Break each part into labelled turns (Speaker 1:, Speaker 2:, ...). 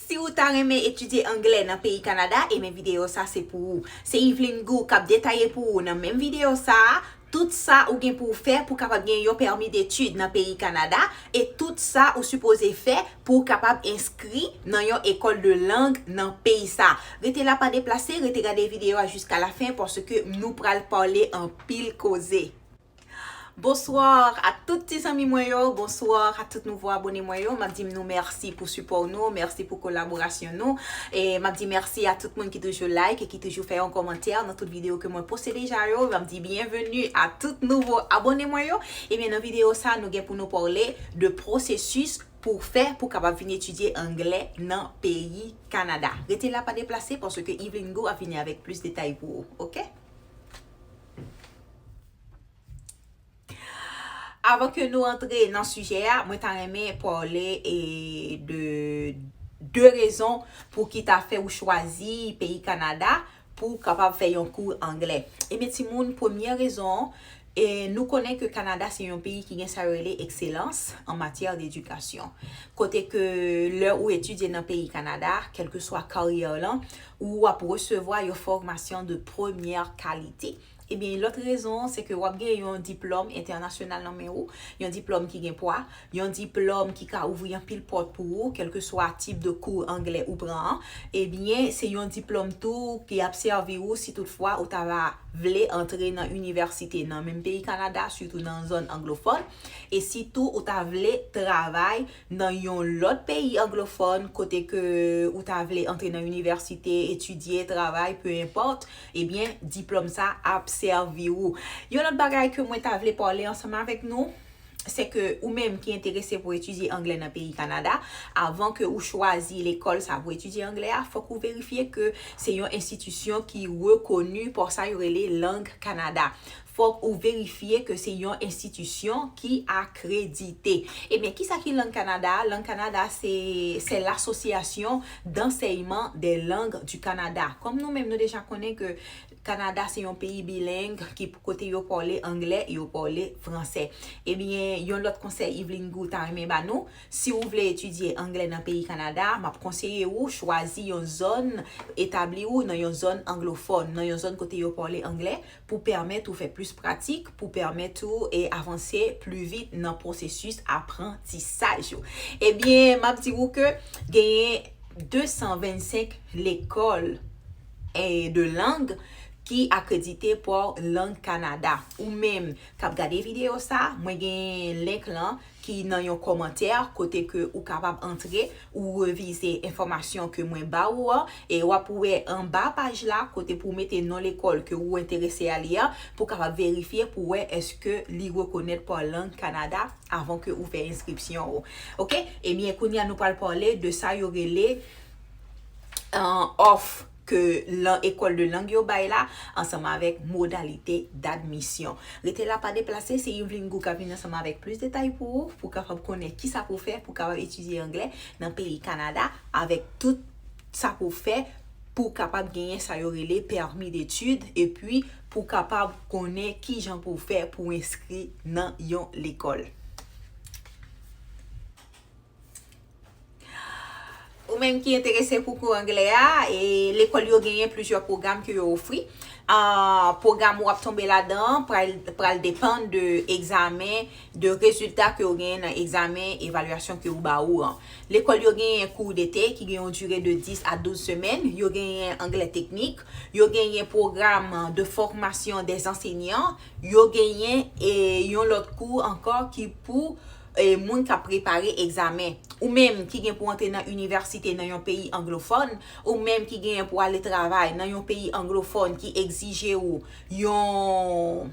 Speaker 1: Si ou ta renmen etidye anglè nan peyi Kanada, enben videyo sa se pou ou. Se Yveline Goux k ap detaye pou ou nan menm videyo sa a, tout sa ou gen pou w fè pou w kapab gen yon pèmi detid nan peyi Kanada e tout sa ou sipoze fè pou w kapab enskri nan yon ekòl de lang nan peyi sa a. Rete la pa deplase, rete gade videyo a jiskalafen paske nou pral pale anpil koze. Bonsoir a tout ti zanmi mwen yo, bonsoir a tout nouvo abone mwen yo, map dim nou merci pou sipò nou, merci pou kolaborasyon nou, e map di merci a tout moun ki toujou like e ki toujou fè yon kòmantè nan tout video ke mwen poste deja yo, map di bienvenue a tout nouvo abone mwen yo, ebyen nan video sa nou gen pou nou parle de processus pou w fè pou kapab vin etidye anglè nan peyi Canada. Rete la pa deplase paske Evelyn Gou ap vini avèk plis detay pou ou ok. Avan ke nou antre nan sijè a, mwen ta renmen pale e de 2 rezon pou ki ta fè ou chwazi peyi Kanada pou ou kapab fè yon kou anglè. Ebyen ti moun, premyè rezon, e nou konnen ke Kanada se yon peyi ki gen sa yo rele ekselans an matyè d'edikasyon. Kote ke lè ou etidye nan peyi Kanada, kèlkeswa karyè w lan, ou ap resevwa yon fòmasyon de premyè kalite. Ebyen yon lòt rezon an se ke wap gen yon diplòm entènasyonal nan men ou, yon diplòm ki gen pwa, yon diplòm ki ka ouvri anpil pòt pou ou kèlkeswa tip de kou anglè ou pran an, ebyen se yon diplòm tou ki ap sèvi ou si tout fwa ou ta va vle antre nan inivèsite nan menm peyi Kanada sitou nan zòn anglofòn e sitou ou ta vle travay nan yon lòt peyi anglofòn kote ke ou ta vle antre nan inivèsite, etidye, travay, peu importe, ebyen diplòm sa ap sèvi ou. Yon lòt bagay ke mwen ta vle pale ansanm avèk nou, se ke ou menm ki enterese pou etidye anglè nan peyi Kanada, avan ke ou chwazi lekòl sa pou etidye anglè a, fòk ou verifye ke se yon enstitisyon ki rekoni pou sa yo rele lang Kanada. Fòk ou verifye ke se yon enstitisyon ki akredite. Ebyen, kisa ki lang Kanada a? Lang Kanada a se, c'est l'association d'enseignement des langues du Canada. Kòm nou menm nou deja konnen ke Kanada se yon peyi bileng ki kote yo pale angle e yo pale franse. Ebyen, yon lòt konsèy Yveline Gou ta renmen ba nou, si ou vle etidye angle nan peyi Kanada, m ap konseye ou chwazi yon zòn, etabli ou nan yon zòn anglofòn, nan yon zòn kote yo pale angle, pou pèmèt ou fè plis pratik, pou pèmèt ou avanse pli vit nan pwosesis aprantisaj ou. Ebyen, m ap di ou ke genyen 225 lekòl de lang ki akredite pa Lang Kanada. Ou menm k ap gade videyo sa a, mwen gen link lan ki nan yon kòmantè kote ke ou kapab antre ou revize enfòmasyon ke mwen ba ou an e wap wè anba paj la kote pou mete non lekòl ke ou enterese a li an pou kapab verifye pou wè eske li rekonèt pa lang Kanada avan ke ou fè enskripsyon ou ok ebyen kounya nou pral pale de sa yo rele òf ke lan Ecole de Langue yo bay la, ansanm avèk modalite d'admission. Rete la pa deplase, se Yveline Gou kap vin ansanm avèk plis detay pou ou, pou kapab konnen kisa pou fè pou kapab etidye anglè nan peyi Kanada avèk tout sa pou fè pou kapab genyen sa yo rele permis d'étude epi pou kapab konnen kijan pou fè pou enskri nan yon lekòl. Ou menm ki enterese pou kou anglè a, lekòl yo genyen plizyè pwogram ke yo ofri. Pwogram ou ap tonbe ladan an pral depann de egzamen, de rezilta ke ou genyen nan egzamen evalyasyon ke yo ba ou an. Lekòl yo genyen kou dete ki gen yon dire de 10 a 12 semèn, yo genyen anglè teknik, yo genyen pwogram de fòmasyon dè zansenyan, yo genyen yon lòt kou ankò ki pou moun k ap prepare egzamen, ou menm ki gen pou antre nan inivèsite nan yon peyi anglofòn, ou menm ki genyen pou ale travay nan yon peyi anglofòn ki egzije ou yon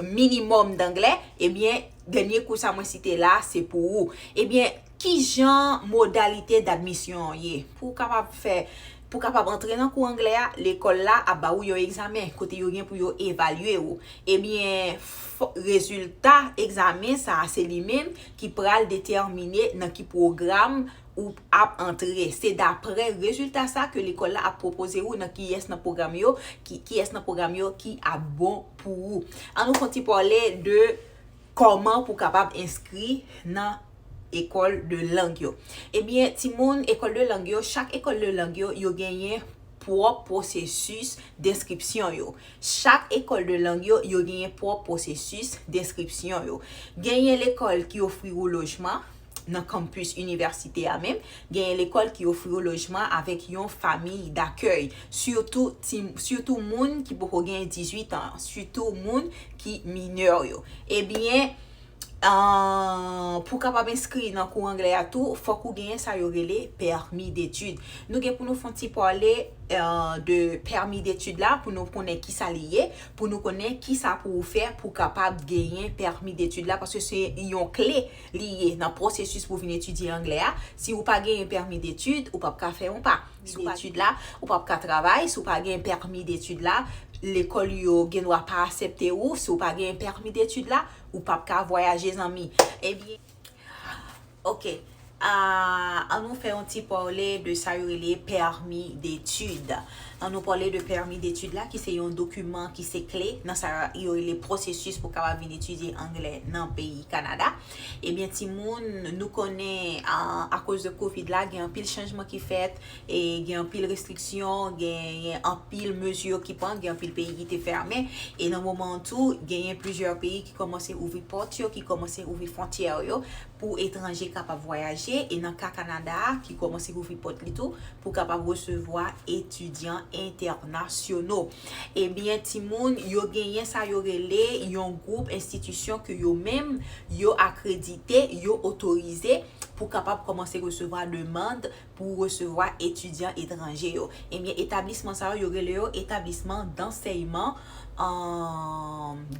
Speaker 1: minimòm danglè, ebyen dènye kou sa mwen site la a se pou ou. Ebyen, kijan modalite dadmisyon an ye? Pou w kapab fè Pou kapab antre nan kou anglè a, lekòl la ap ba ou yon egzamen kote yo gen pou yo evalye ou. Ebyen, rezilta egzamen sa a se li menm ki pral detèmine nan ki pwogram ou ap antre. Se daprè rezilta sa ke lekòl la ap pwopoze ou nan kiyès nan pwogram yo, kiyès nan pwogram yo ki ap bon pou ou. An nou fon ti pale de. Kòman pou kapab enskri nan Ecole de langue yo? Ebyen timoun Ecole de langue yo, chak Ecole de langue yo, yo genyen pwòp pwosesis denskripsyon yo. Chak Ecole de langue yo, yo genyen pwòp pwosesis denskripsyon yo. Genyen lekòl ki ofri ou lojman, nan campus inivèsite a menm, genyen lekòl ki ofri yo lojman avèk yon famiy dakèy, sitou ti, sitou moun ki poko gen 18 an, sitou moun ki minè yo. Ebyen, pou kapab enskri nan kou anglè a tou, fòk ou genyen sa yo rele permis d'études. Nou gen pou nou fon ti pale de permis d'études la pou nou konnen ki sa li ye, pou nou konnen ki sa pou ou fè pou kapab genyen permis d'études la paske se yon kle Li ye nan pwosesis pou vin etidye anglè a. Si ou pa genyen pèmi detid, ou pap ka fè yon pa. Si ou pa genyen pèmi detid la, ou pap ka travay. Si ou pa genyen pèmi detid la, lekòl yo gen dwa pa asepte ou. Si ou pa genyen pèmi detid la, ou pap ka vwayaje zanmi. Ebyen. Ok. An nou fè yon ti pale de sa yo rele pèmi detid. An nou pale de pèmi detid la ki se yon dokiman ki se kle nan sa yo rele pwosesis pou kapab vin etidye angle nan peyi Kanada. Ebyen timoun nou konnen akoz de kovid la gen anpil chanjman ki fèt e gen anpil restriksyon, genyen anpil mezi ki pran, gen anpil peyi ki te fèmen e nan moman an tou genyen plizyè peyi ki kòmanse ouvri pòt yo, ki kòmanse ouvri fontyè yo. pou etranje kapab vwayaje e nan ka Kanada a ki kòmanse louvri pòt li tou pou kapab resevwa etidyan entènasyono. Ebyen timoun, yo genyen sa yo rele yon gwoup enstitisyon ke yo menm yo akredite, yo otorize pou kapab kòmanse resevwa demand pou resevwa etidyan etranje yo. Ebyen etablisman sa yo, yo rele yo etablisman dansèyman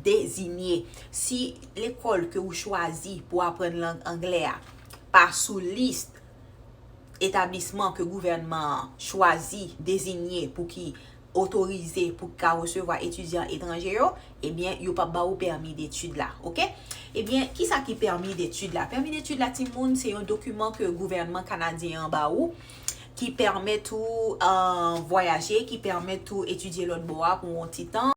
Speaker 1: dezinye. Si lekòl ke ou chwazi pou aprann lang anglè a pa sou lis etablisman ke gouvènman an chwazi dezinye pou ki otorize pou ki ka resevwa etidyan etranje yo, ebyen yo pap ba ou pèmi detid la. Ok. Ebyen, ki sa ki pèmi detid la? Pèmi detid la ti moun se yon dokiman ke gouvènman Kanadyen an ba ou ki pèmèt ou vwayaje, ki pèmèt ou etidye lòt bò a pou yon ti tan.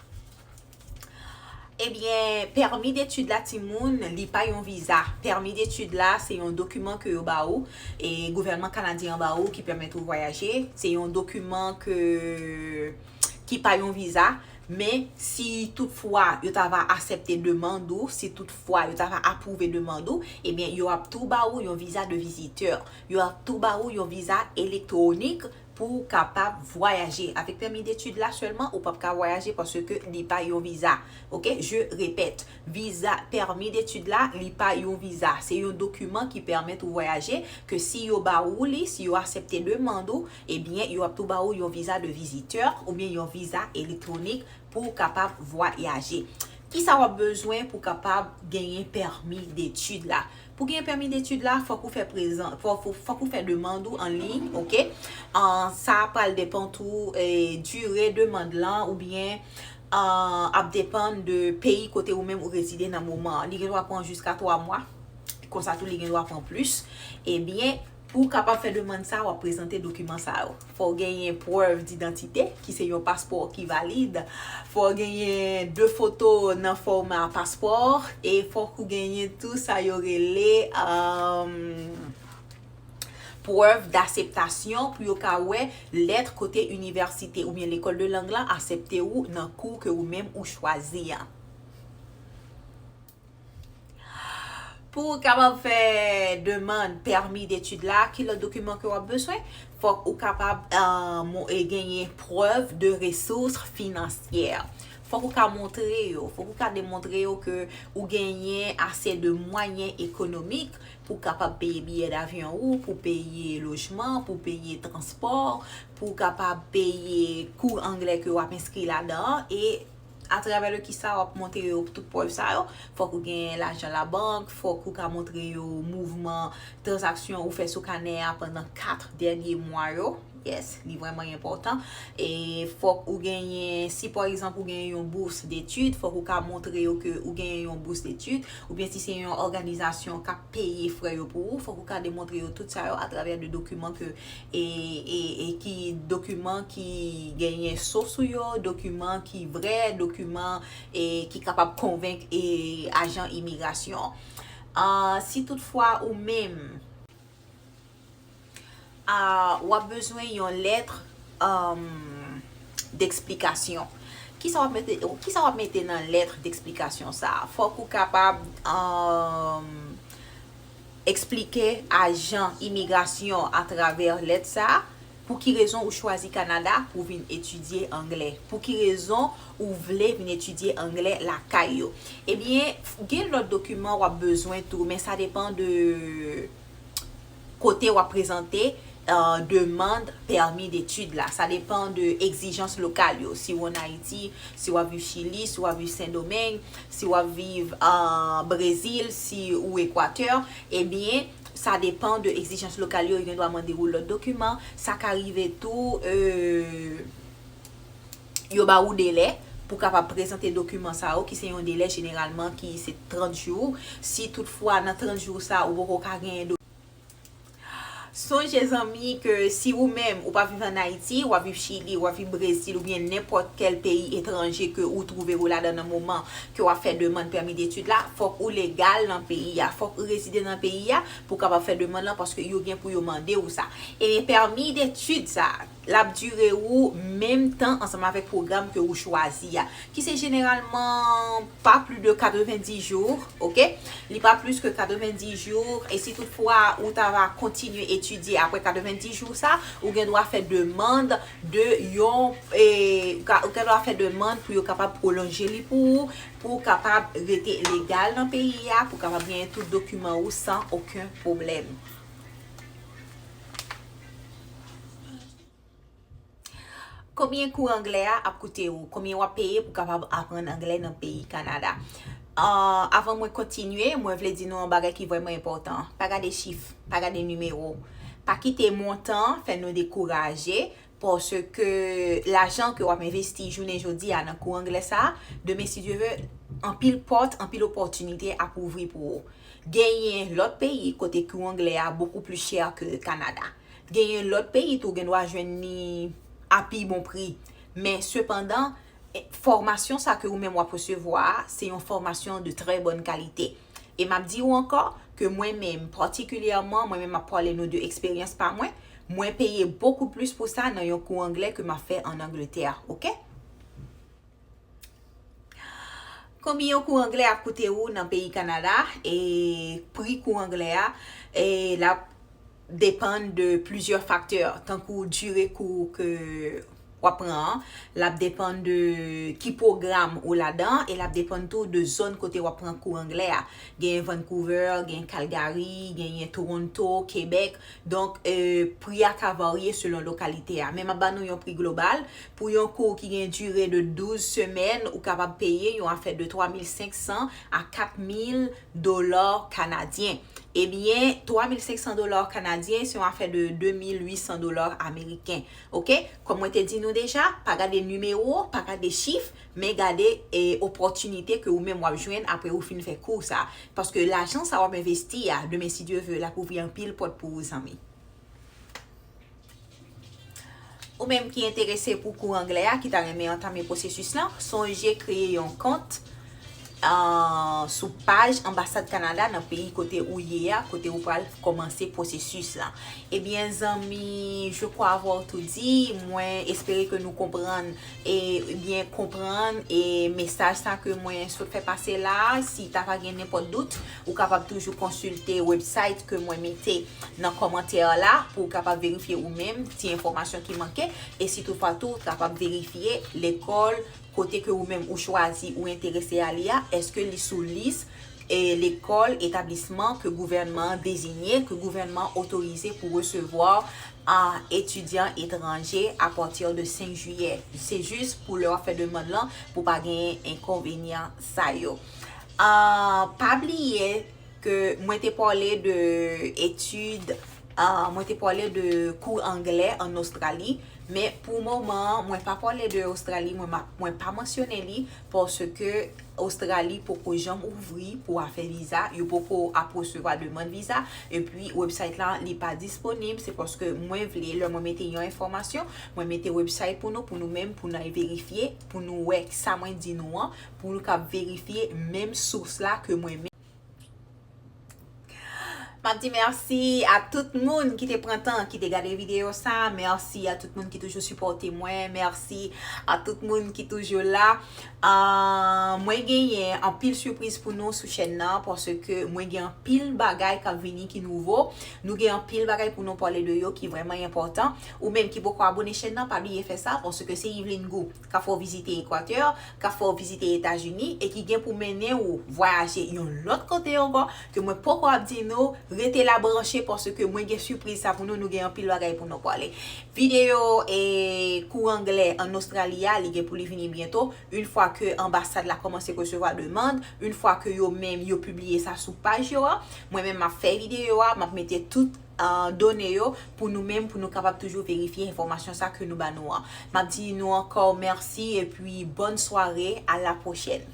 Speaker 1: Ebyen pèmi detid la timoun li pa yon viza pèmi detid la se yon dokiman ke yo ba ou e gouvènman kanadyen an ba ou ki pèmèt ou vwayaje se yon dokiman ke ki pa yon viza men si tout fwa yo ta va asèpte demand ou si tout fwa yo ta va apwouve demand ou ebyen yo ap tou ba ou yon viza de vizitè yo ap tou ba ou yon viza elektwonik Pou ou kapab vwayaje avèk pèmi detid la sèlman ou pap ka vwayaje paske li pa yon viza ok je repèt viza pèmi detid la li pa yon viza se yon dokiman ki pèmèt ou vwayaje ke si yo ba ou li si yo asèpte demand ou ebyen yo ap tou ba ou yon viza de vizitè oubyen yon viza elektwonik pou ou kapab vwayaje kisa wap bezwen pou kapab genyen pèmi detid la. Pou gen pèmi detid la fòk ou fè prezan fòk ou fè demand ou an liy ok sa pral depan tou dire demand lan oubyen ap depan de peyi kote ou menm ou rezide nan moman an li gen dwa pran jiska 3 mwa konsa tou li gen dwa pran plis ebyen Pou w kapab fè demann sa a, w ap prezante dokiman sa yo, fò w genyen prèv didantite, ki se yon paspò ki valid, fò w genyen de foto nan fòma paspò, e fòk ou genyen tou sa yo rele prèv daseptasyon pou yo ka wè lèt kote inivèsite oubyen lekòl de lang lan asepte ou nan kou ke ou menm ou chwazi a. Pou ou kapab fè demand pèmi detid la, ki lòt dokiman ke w ap beswen? Fòk ou kapab genyen prèv de resous finansyè. Fòk ou ka montre yo, fòk ou ka demontre yo ke ou genyen ase de mwayen ekonomik pou kapab peye biyè davyon ou, pou peye lojman, pou peye transpò, pou kapab peye kou anglè ke w ap enskri ladan an, e A travè de ki sa wap montre yo tout prèv sa yo? Fòk ou gen lajan labank, fòk ou ka montre yo mouvman tranzaksyon ou fè sou kanè a pandan 4 dènye mwa yo, yes, li vrèman enpòtan. E fòk ou genyen, si pa egzanp ou genyen yon bous detid, fòk ou ka montre yo ke ou genyen yon bous detid, oubyen si se yon òganizasyon kap peye frè yo pou ou, fòk ou ka demontre yo tout sa yo a travè de dokiman ke e ki dokiman ki genyen so sou yo, dokiman ki vrè, dokiman ki kapab konvenk e ajan imigrasyon. Si tout fwa ou menm w ap bezwen yon lèt deksplikasyon, ki sa w ap mete nan lèt deksplikasyon sa a? Fòk ou kapab. Eksplike ajan imigrasyon an atravè lèt sa a pou ki rezon ou chwazi Kanada pou w vin etidye anglè. Pou ki rezon ou vle vin etidye anglè lakay yo. Ebyen, gen lòt dokiman w ap bezwen tou, men sa depan de kote w ap prezante demand pèmi detid la. Sa depan de egzijans lokal yo. Si ou an Ayiti, si wap viv Chili, si wap viv Sendomeng, si wap viv Brezil, si ou Ekwatè, ebyen sa depan de egzijans lokal yo, yo gen dwa mande ou lòt dokiman. Sa ka rive tou yo ba ou delè pou kapab prezante dokiman sa yo ki se yon delè jeneralman ki se 30 jou. Si tout fwa nan 30 jou sa ou poko ka gen. Sonje zanmi ke si ou menm ou pa viv an Ayiti, wap viv Chili, wap viv Brezil oubyen nenpòt kèl peyi etranje ke ou twouve ou ladan nan moman ke wap fè demand pèmi detid la, fòk ou legal nan peyi a, fòk ou rezide nan peyi a pou kapab fè demand lan paske yo gen pou yo mande ou sa. Ebyen pèmi detid sa, L ap dire ou menm tan ansanm avèk pwogram ke ou chwazi a, ki se jeneralman pa pli de 90 jou, ok. Li pa plis ke 90 jou, e si tout fwa ou ta va kontinye etidye apre 90 jou sa, ou gen dwa fè demand de yon, ou gen dwa fè demand pou yo kapab pwolonje li pou ou, pou ou kapab rete legal nan peyi a, pou ou kapab genyen tout dokiman ou san oken pwoblèm. Konbyen kou anglè a ap koute ou? Konbyen wap peye pou kapab aprann anglè nan peyi Kanada? Avan mwen kontinye, mwen vle di nou yon bagay ki vrèman enpòtan. Pa gade chif, pa gade nimewo. Pa kite montan fè nou dekouraje, paske lajan ke wap envesti jounen jodi a nan kou anglè sa, demen si Dye ve, anpil pòt, anpil opòtinite ap ouvri pou ou. Genyen lòt peyi kote kou anglè a bokou pli chè ke Kanada. Genyen lòt peyi tou gen dwa jwenn ni a pi bon pri. Men sepandan, fòmasyon sa ke ou menm w ap resevwa a, se yon fòmasyon de trè bòn kalite. E m ap di ou ankò, ke mwen menm, patikilyèman, mwen menm m ap pale nou de eksperyans pa mwen, mwen peye bokou plis pou sa nan yon kou anglè ke m ap fè an Angletè. Ok? Konbyen yon kou anglè ap koute ou nan peyi Kanada e pri kou anglè a e lap depann de plizyè faktè tankou dire kou ke wap pran an, lap depann de ki pwogram ou ladan e lap depann tou de zòn kote wap pran kou anglè a. Genyen Vancouver, genyen Calgary, genyen Toronto, Quebec, donk pri a ka varye selon lokalite a. Men map ba nou yon pri global, Pou yon kou ki gen dire de 12 semèn, ou kapab peye yon afè de 3500 a 4000 dola kanadyen. Ebyen, 3500 dola kanadyen se yon afè de 2800 dola ameriken. Ok? Kòm mwen te di nou deja, pa gade nimewo, pa gade chif, men gade opòtinite ke ou menm w ap jwenn apre ou fin fè kou sa. Paske lajan sa w ap envesti a, demen si Dye ve, l ap ouvri anpil pòt pou ou zanmi. Ou menm ki enterese pou kou anglè a ki ta renmen antame pwosesis lan, sonje kreye yon kont sou paj Anbasad Kanada nan peyi kote ou ye a, kote ou pral kòmanse pwosesis lan. Ebyen zanmi, je crois avoir tout dit, mwen espere ke nou konprann e byen konprann e mesaj sa ke mwen sot fè pase la a, si ta va gen nenpòt dout ou kapab toujou konsilte website ke mwen mete nan kòmantè la pou kapab verifye ou menm ti enfòmasyon ki manke e si tout fwa tou kapab verifye lekòl kote ke ou menm ou chwazi ou enterese a li a eske li sou lis e lekòl, etablisman ke gouvènman an dezinye, ke gouvènman an otorize pou resevwa an etidyan etranje a patir de 5 jiyè. Se jis pou lè wap fè demand lan pou pa gen enkonvenyan sa yo. Pa bliye ke mwen te pale de etid, mwen te pale de kou anglè an Ostrali, men pou moman mwen pa pale de Ostrali, mwen pa mansyone li Paske Ostrali poko janm ouvri pou afè viza, yo poko ap resevwa demand viza, epi website la li pa disponib, se paske mwen vle lè mwen mete yon enfòmasyon, mwen mete website pou nou, pou nou menm pou nou al verifye, pou nou wè sa mwen di nou an, pou nou kab verifye menm sous la ke mwen menm. Map di merci a tout moun ki te pran tan ki te gade video sa, merci a tout moun ki toujou sipòte mwen, merci a tout moun ki toujou la Mwen genyen anpil sipriz pou nou sou chèn nan paske mwen gen anpil bagay kap vini ki nouvo Nou gen anpil bagay pou nou pale de yo ki vrèman enpòtan Ou menm ki poko abone chèn nan pa bliye fè sa paske se Yveline Gou ka fè w vizite Ekwatè, ka fè w vizite Etazini e ki gen pou mennen ou vwayaje yon lòt kote ankò ke mwen poko ap di nou, rete la branche paske mwen gen sipriz sa pou nou, nou gen anpil bagay pou nou pwale. Videyo kou anglè an Ostrali a li gen pou li vini byento, yn fwa ke anbasad la kòmanse resevwa demand, yn fwa ke yo menm yo pibliye sa sou paj yo a, mwen menm map fè videyo a, map mete tout. done yo pou nou menm pou nou kapab toujou verifye enfòmasyon sa ke nou ba nou an. Map di nou ankò mèsi epi bòn sware a la pwochèn.